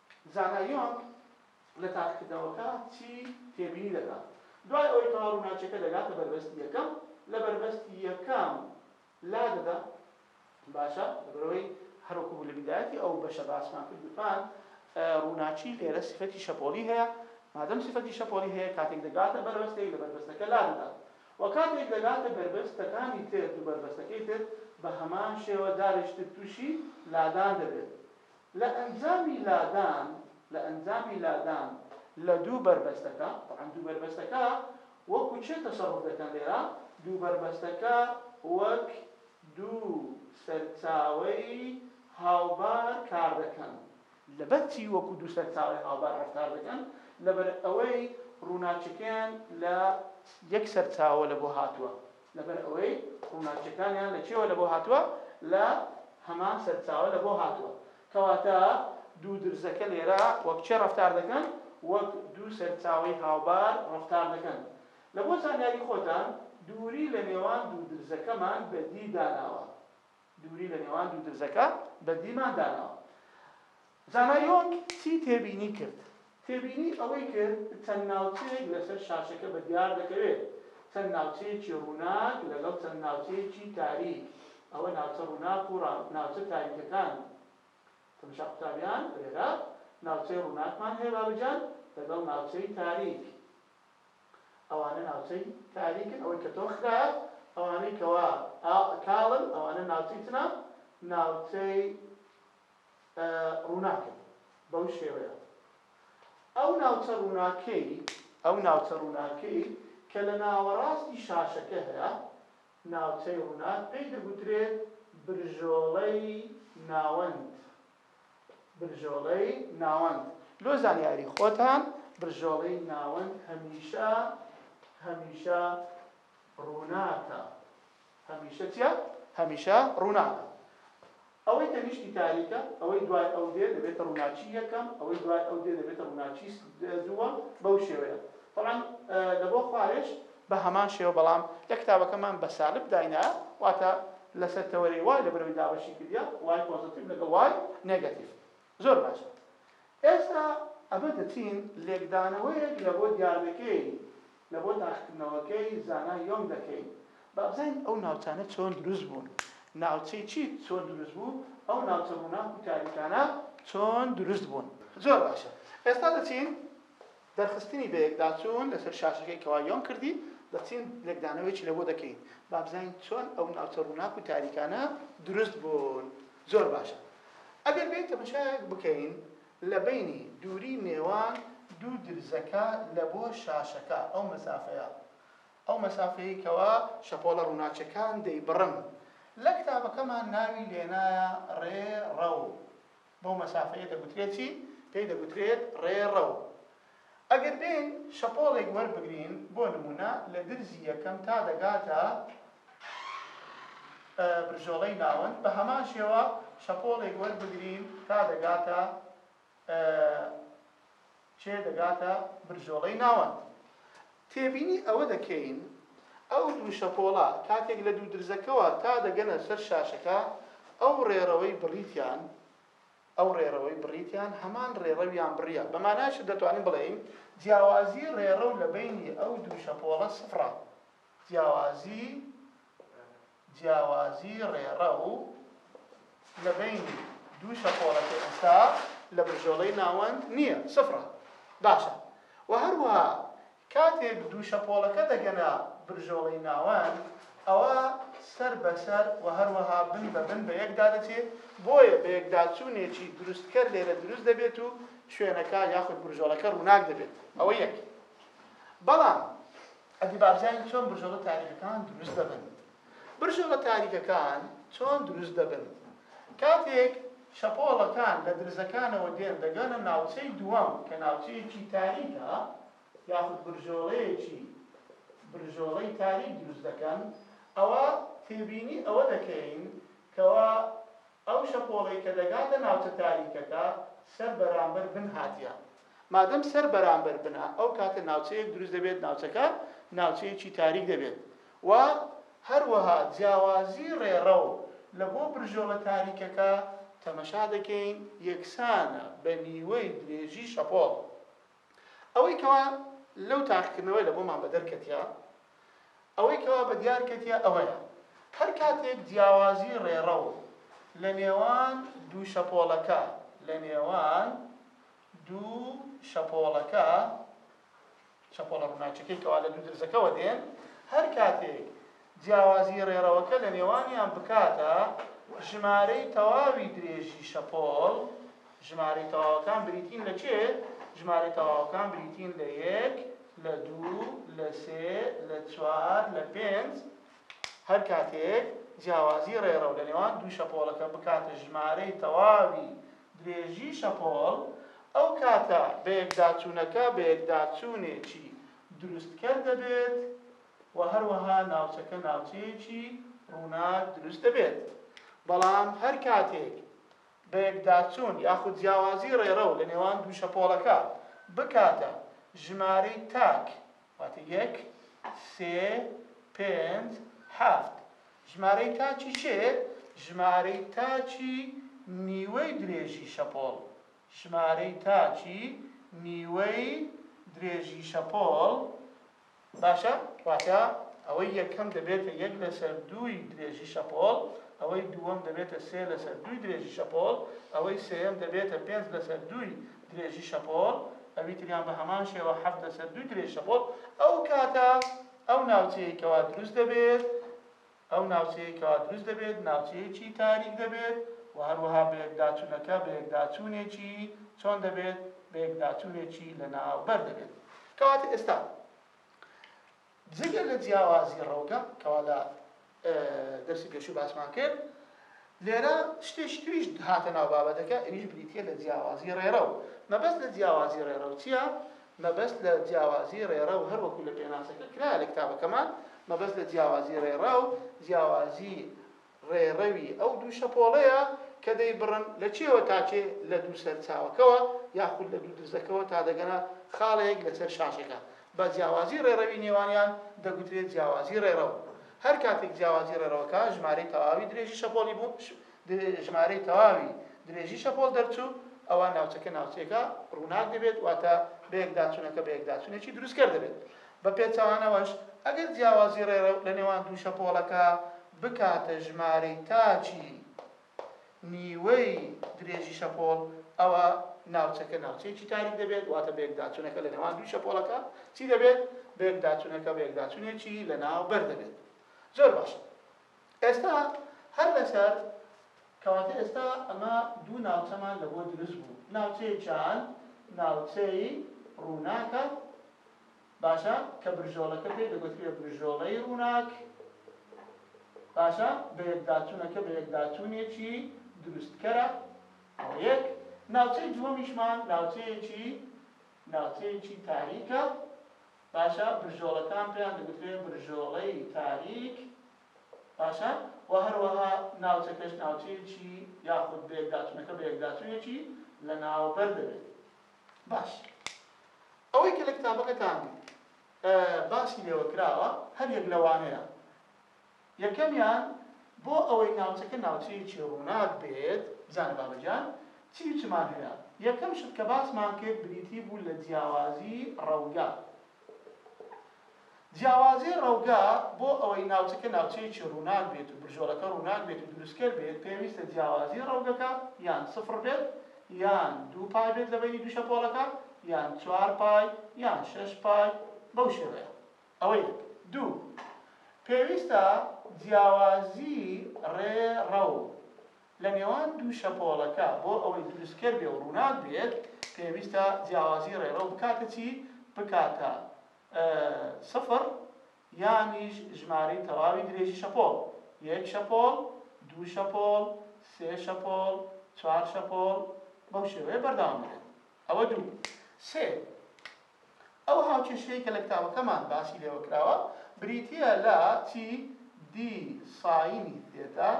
زانا یۆنگ لە تاقیکردنەوەکە چی تێبینی دەکات دوای ئەوەی کەوا ڕووناکیەکە دەگاتە بەربەستی یەکەم لە بەربەستی یەکەم لادەدا باشە لەبەرەوەی هەروەکو بوو لە بیدایەتی ئەو بەشە باسمان کرد گوتمان ڕووناکی لێرە سفەتی شەپۆلی هەیە مادەم سفەتی شەپۆلی هەیە کاتێک دەگاتە بەربەستەی لە بەربەستەکە لادەدا و کاتێک دەگاتە بەربەستەکانی تر دوو بەربەستەکەی تر بە هەمان شێوە جارێکی تر تووشی لادان دەبێت لە ئەنجامی لادان لە ئەنجامی لادان لە دوو بەربەستەکە، تەبعەن دوو بەربەستەکە وەکو چێ تەسەڕوف دەکەن لێرە؟ دوو بەربەستەکە وەک دوو سەرچاوەی هاوبار کار دەکەن. لەبەر چی وەکو دوو سەرچاوەی هاوبار ڕەفتار دەکەن؟ لەبەر ئەوەی ڕووناکیەکەیان لە یەک سەرچاوە لە بۆ هاتووە، لەبەر ئەوەی ڕووناکیەکانیان لە کوێوە لەبۆ هاتووە؟ لە هەمان سەرچاوە لەبۆ هاتووە. کەواتە دوو درزەکە لێرە وەک چێ ڕەفتار دەکەن؟ وەک دوو سەرچاوەی هاوبار ڕەفتار دەکەن. لەبۆ زانیاری خۆتان دووری لە نێوان دوو درزەکەمان بەدی داناوە. دووری لە نێوان دوو درزەکە بەدیمان داناوە. زانایۆنگ چی تێبینی کرد؟ تێبینی ئەوەی کرد چەند ناوچەیەک لەسەر شاشەکە بەدیار دەکەوێت، چەند ناوچەیەکی ڕووناک لەگەڵ چەند ناوچەیەکی تاریک، ئەوە ناوچە ڕووناک و ناوچە تاریکەکان، تەمەشا قوتابیان لێرە ناوچەی ڕووناکمان هەیە بابەجان لەگەڵ ناوچەی تاریک، ئەوانە ناوچەی تاریکن ئەوەی کە تۆخ کرایە، ئەوانەی کەوا کاڵن ئەوانە ناوچەی چنە؟ ناوچەی. ڕووناکە بوو، بەو شێوەیە ئەو ناوچە ڕووناکەی، ئەو ناوچە ڕووناکەی کە لە ناوەڕاستی شاشەکە هەیە، ناوچەی ڕووناک پێی دەگوترێت برژۆڵەی ناوەند، برژۆڵەی ناوەند، لۆ زانیاری خۆتان برژۆڵەی ناوەند هەمیشە، هەمیشە ڕووناکە. هەمیشە چیە؟ هەمیشە ڕووناکە. ئەوەی تەنیشتی تاریکە، ئەوەی دوای ئەو دێ دەبێتە ڕووناکی یەکەم، ئەوەی دوای ئەو دێ دەبێتە ڕووناکی دووەم، بەو شێوەیە. تەبعەن لە بۆ خوارێش بە هەمان شێوە، بەڵام لە کتابەکەمان بە سالب داینایە، واتە لەسەر تەوەرەی وای لە بەرەوەی دابەشی کردیە، وای پۆزەتیڤ لەگەڵ وای نێگەتیڤ. زۆر باشە ئێستا ئەمە دەچین لێکدانەوەیەک لە بۆ دیاردەکەی لە بۆ داخکردنەوەکەی زانا یۆنگ دەکەین با بزانین ئەو ناوچانە چۆن دروست بوون ناوچەی چی چۆن دروست بوو ئەو ناوچە ڕووناک و تاریکانە چۆن دروست بوون زۆر باشە ئێستا دەچین دەرخستنی بەیەکداچوون لەسەر شاشەکەی کەوا یۆن کردی، دەچین لێکدانەوەیەکی لەبۆ دەکەین با بزانین چۆن ئەو ناوچە ڕووناک و تاریکانە دروست بوون. زۆر باشە ئەگەر بێین تەمەشایەک بکەین لە بەینی دووری نێوان دوو درزەکە لەبۆ شاشەکە ئەو مەسافەیە، ئەو مەسافەیەی کەوا شەپۆڵە ڕووناکیەکان دەیبڕن. لە کتابەکەمان ناوی لێنایە ڕێ ڕەو. بەو مەسافەیە دەگوترێت چی؟ پێی دەگوترێت ڕێڕەو. ئەگەر بێین شەپۆڵێک وەربگرین، بۆ نموونە لە درزی یەکەم تا دەگاتە برژۆڵەی ناوەند، بە هەمان شێوە شەپۆڵێک وەربگرین تا دەگاتە کێ دەگاتە برژۆڵەی ناوەند؟ تێبینی ئەوە دەکەین ئەو دوو شەپۆڵە کاتێک لە دوو درزەکەوە تا دەگەنە سەر شاشەکە ئەو ڕێڕەوەی بڕیتیان ئەو ڕێڕەوەی بڕیتیان هەمان ڕێڕەویان بڕیە بە مانایشت دەتوانین بڵێین جیاوازی ڕێڕەو لە بەینی ئەو دوو شەپۆڵە سفڕە جیاوازی جیاوازی ڕێڕەو لە بەینی دوو شەپۆڵەکەی ئەستا لە بژۆڵەی ناوەند نییە، سفرە. باشە. وە هەروەها کاتێک دوو شەپۆڵەکە دەگەنە برژۆڵەی ناوەند ئەوا سەر بە سەر وە هەروەها بن بە بن بە یەکدا دەچێ بۆیە بە یەکداچوونێکی دروستکەر لێرە دروست دەبێت و شوێنەکە یاخود برژۆڵەکە ڕووناک دەبێت ئەوە یەک بەڵام حەدی بارزانی چۆن برژۆڵە تاریکەکان دروست دەبن؟ برژۆڵە تاریکەکان چۆن دروست دەبن؟ کاتێک شەپۆڵەکان لە درزەکانەوە دێن دەگەنە ناوچەی دووەم کە ناوچەیەکی تاریکە یاخود برژۆڵەیەکی برژۆڵەی تاریک دروست دەکەن ئەوا تێبینی ئەوە دەکەین کەوا ئەو شەپۆڵەی کە دەگاتە ناوچە تاریکەکە سەر بەرامبەر بن هاتیە مادەم سەر بەرامبەر بنە ئەو کاتە ناوچەیەک دروست دەبێت ناوچەکە ناوچەیەکی تاریک دەبێت و هەروەها جیاوازی ڕێڕەو لە بۆ برژۆڵە تاریکەکە تەمەشا دەکەین یەکسانە بە نیوەی درێژی شەپۆڵ ئەوەی کەوا لەو تاقیکردنەوەی لە بۆمان بەدەر کەتیە ئەوەی کەوا بە دیار کەتیە ئەوەیە هەر کاتێک جیاوازی ڕێڕەو لە نێوان دوو شەپۆڵەکە لە نێوان دوو شەپۆڵەکە، شەپۆڵە ڕووناکییەکەی کەوا لە دوو درزەکەوە دێن، هەر کاتێک جیاوازیی ڕێڕەوەکە لە نێوانیان بکاتە ژمارەی تەواوی درێژی شەپۆڵ، ژمارەی تەواوەکان بریتین لە چێ؟ ژمارەی تەواوەکان بریتین لە یەک، لە دوو، لە سێ، لە چوار، لە پێنج. هەر کاتێک جیاوازیی ڕێڕەو لە نێوان دوو شەپۆڵەکە بکاتە ژمارەی تەواوی درێژی شەپۆڵ، ئەو کاتە بەیەکداچوونەکە بەیەکداچوونێکی دروستکەر دەبێت و هەروەها ناوچەکە ناوچەیەکی ڕووناک دروست دەبێت. بەڵام هەر کاتێک بەیەکداچوون یاخود جیاوازی ڕێڕەو لەنێوان دوو شەپۆڵەکە بکاتە ژمارەی تاک واتە یەک، سێ، پێنج، هەفت. ژمارەی تاکی کێ؟ ژمارەی تاکی نیوەی درێژی شەپۆڵ. ژمارەی تاکی نیوەی درێژی شەپۆڵ باشە، واتە ئەوەی یەکەم دەبێتە یەک لەسەر دووی درێژی شەپۆڵ، ئەوەی دووەم دەبێتە سێ لەسەر دووی درێژی شەپۆڵ، ئەوەی سێیەم دەبێتە پێنج لەسەر دووی درێژی شەپۆڵ، ئەوی تریان بە هەمان شێوە حەفت لەسەر دووی درێژی شەپۆڵ، ئەو کاتە ئەو ناوچەیەی کەوا دروست دەبێت، ئەو ناوچەیەی کەوا دروست دەبێت ناوچەیەکی تاریک دەبێت و هەروەها بەیەکداچوونەکە بەیەکداچوونێکی چۆن دەبێت؟ بەیەکداچوونێکی لەناوبەر دەبێت. کەواتە ئێستا جگە لە جیاوازی ڕەوگە کەوا لە دەرسی پێشوو باسمان کرد لێرە شتێکی تریش هاتە ناو بابەتەکە ئەویش بریتە لە جیاوازی ڕێڕە و مەبەست لە جیاوازی ڕێڕە و چییە مەبەست لە جیاوازی ڕێڕە و هەروەکو لە پێناسەکە کرا لە کتابەکەمان مەبەست لە جیاوازی ڕێڕە و جیاوازی ڕێڕەوی ئەو دوو شەپۆڵەیە کە دەیبڕن، لە کێوە تا کێ، لە دوو سەرچاوەکەوە یاخود لە دوو درزەکەوە تا دەگەنە خاڵێک لەسەر شاشەکە. بە جیاوازی ڕێڕەوی نێوانیان دەگوترێت جیاوازی ڕێڕەو. هەر کاتێک جیاوازی ڕێڕەوەکە ژمارەی تەواوی درێژی شەپۆڵی بوو، ژمارەی تەواوی درێژی شەپۆڵ دەرچوو، ئەوا ناوچەکە ناوچەیەکە ڕووناک دەبێت، واتە بەیەکداچوونەکە بەیەکداچوونێکی دروستکەر دەبێت. بە پێچەوانەوەش، ئەگەر جیاوازی ڕێڕەو لە نێوان دوو شەپۆڵەکە بکاتە ژمارەی تاکی نیوەی درێژی شەپۆڵ ئەوا ناوچەکە ناوچەیەکی تاریک دەبێت واتە بەیەکداچونەکە لە نێوان دوو شەپۆڵەکە چی دەبێت بەیەکداچونەکە بەیەکداچونێکی لەناو بەر دەبێت زۆر باش ئێستا هەر لەسەر کەواتە ئێستا ئەمە دوو ناوچەمان لە بۆ دروست بوو ناوچەیەکیان ناوچەی ڕووناکە باشە کە برژۆڵەکە پێی دەگوترێ برژۆڵەی ڕووناک باشە بە یەکداچوونەکە بە یەکداچوونێکی دروستکەرە ئەوە یەک ناوچەی دووەمیشمان ناوچەیەکی ناوچەیەکی تاریکە باشە برژۆڵەکان پێیان دەگوترێ برژۆڵەی تاریک باشە و هەروەها ناوچەکەش ناوچەیەکی یاخود بە یەکداچوونەکە بە یەکداچوونێکی لە ناوبەر دەبێت باش ئەوەی کە لە کتابەکەتان باسی لێوە کراوە هەر یەک لەوانەیە یەکەمیان بۆ ئەوەی ناوچەکە ناوچەیەکی ڕووناک بێت بزانە بابە گیان چی و چمان هەیە یەکەم شت کە باسمان کرد بریتی بوو لە جیاوازی ڕەوگە جیاوازی ڕەوگا بۆ ئەوەی ناوچەکە ناوچەیەکی ڕووناک بێت و برژۆڵەکە ڕووناک بێت و دروستکەر بێت، پێویستە جیاوازی ڕەوگەکە یان سفڕ بێت یان دوو پای بێت لە بەینی دوو شەپۆڵەکە یان چوار پای یان شەش پای بەو شێوەیە. ئەوە یەک. دوو. پێویستە جیاوازی ڕێ ڕەو لە نێوان دوو شەپۆڵەکە بۆ ئەوەی دروستکەر بێ و ڕووناک بێت پێویستە جیاوازی ڕێڕەو بکاتە چی؟ بکاتە سفر یانیش ژمارەی تەواوی درێژی شەپۆڵ، یەک شەپۆڵ، دوو شەپۆڵ، سێ شەپۆڵ، چوار شەپۆڵ، بەو شێوەیە بەردەوام دەبێت. ئەوە دوو. سێ. ئەو هاوکێشەی کە لە کتابەکەمان باسی لێوە کراوە بریتییە لە چی؟ دی ساینی تێتا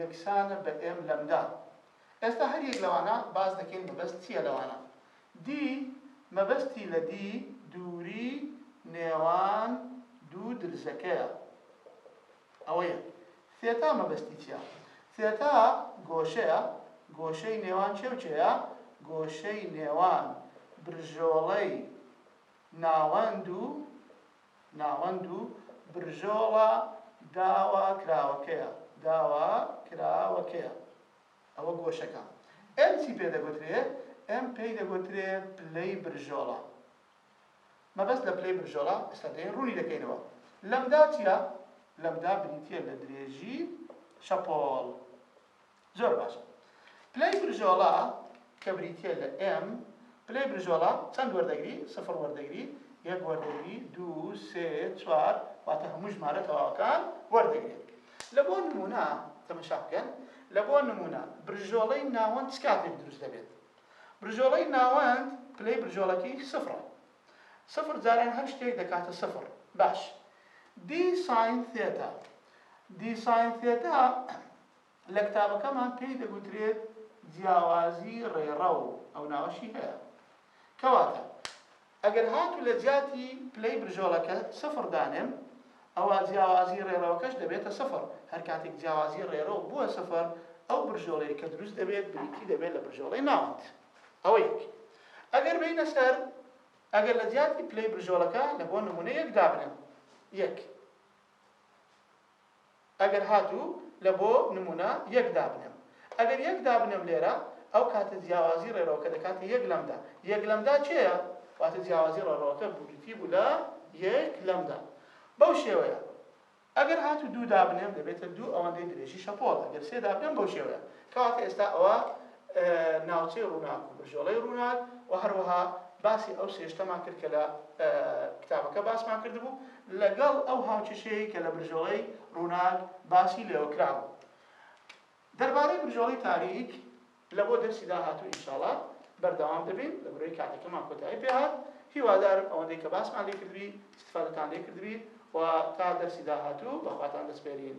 یەکسانە بە ئێم لەمدا. ئێستا هەر یەک لەوانە باس دەکەین مەبەست چییە لەوانە؟ دی مەبەستی لە دی دووری نێوان دوو درزەکەیە. ئەوەیە ثێتا مەبەستی چیە؟ ثێتا گۆشەیە، گۆشەی نێوان کێ و کێیە؟ گۆشەی نێوان برژۆڵەی ناوەند و ناوەند و برژۆڵە داواکراوەکەیە، داواکراوەکەیە، ئەوە گۆشەکە. ئێم چی پێ دەگوترێ؟ ئێم پێی دەگوترێ پلەی برژۆڵە. مەبەست لە پلەی بنژۆڵە ئێستا دێین ڕوونی دەکەینەوە. لەمدا چیە؟ لەمدا بریتیە لە درێژی شەپۆڵ. زۆر باشە. پلەی بنژۆڵە کە بریتیە لە ئێم، پلەی بنژۆڵە چەند وەردەگری؟ سفڕ وەردەگری، یەک وەردەگری، دوو، سێ، چوار، واتە هەموو ژمارە تەواوەکان وەردەگرێت. لە بۆ نموونە تەمەشا بکەن، لە بۆ نموونە بنژۆڵەی ناوەند چ کاتێک دروست دەبێت؟ برجۆڵەی ناوەند پلەی برجۆڵەکەی سفرە. سفر جاران هەر شتێک دەکاتە سفر. باش. دی ساین ثێتا. دی ساین ثێتا لە کتابەکەمان پێی دەگوترێت جیاوازی ڕێڕەو، ئەو ناوەشی هەیە. کەواتە ئەگەر هاتوو لە جیاتی پلەی برژۆلەکە سفر دانێم، ئەوا جیاوازی ڕێڕەوەکەش دەبێتە سفر، هەر کاتێک جیاوازی ڕێڕەو بووە سفر، ئەو برژۆلەی کە دروست دەبێت بریتی دەبێت لە برژۆلەی ناوەند. ئەوە یەک. ئەگەر بێینە سەر ئەگەر لە جیاتی پلەی برژۆلەکە لە بۆ نموونە یەک دابنێم، یەک. ئەگەر هاتوو لە بۆ نموونە یەک دابنێم. ئەگەر یەک دابنێم لێرە، ئەو کاتە جیاوازی ڕێڕەوەکە دەکاتە یەک لەمدا. یەک لەمدا کێیە؟ واتە جیاوازی ڕێڕەوەکە بریتی بوو لە یەک لەمدا. بەو شێوەیە ئەگەر هاتوو دوو دابنێم دەبێتە دوو ئەوەندەی درێژی شەپۆڵە. گەر سێ دابنێم بەو شێوەیە. کەواتە ئێستا ئەوە ناوچەی ڕووناک و بەژۆڵەی ڕووناک و هەروەها باسی ئەو سێشتەمان کرد کە لە کتابەکە باسمان کردبوو لەگەڵ ئەو هاوکێشەیەی کە لە برژۆڵەی ڕووناک باسی لێوە کرابوو دەربارەی برژۆڵی تاریک لە بۆ دەرسی داهاتوو ئینشاڵا بەردەوام دەبین لە برۆی کاتەکەمان کۆتایی پێهات هیوادارم ئەوەندەی کە باسمان لێ کردبی استفادەتان لێ کردبی و تا دەرسی داهاتوو بەخواتان دەسپێرین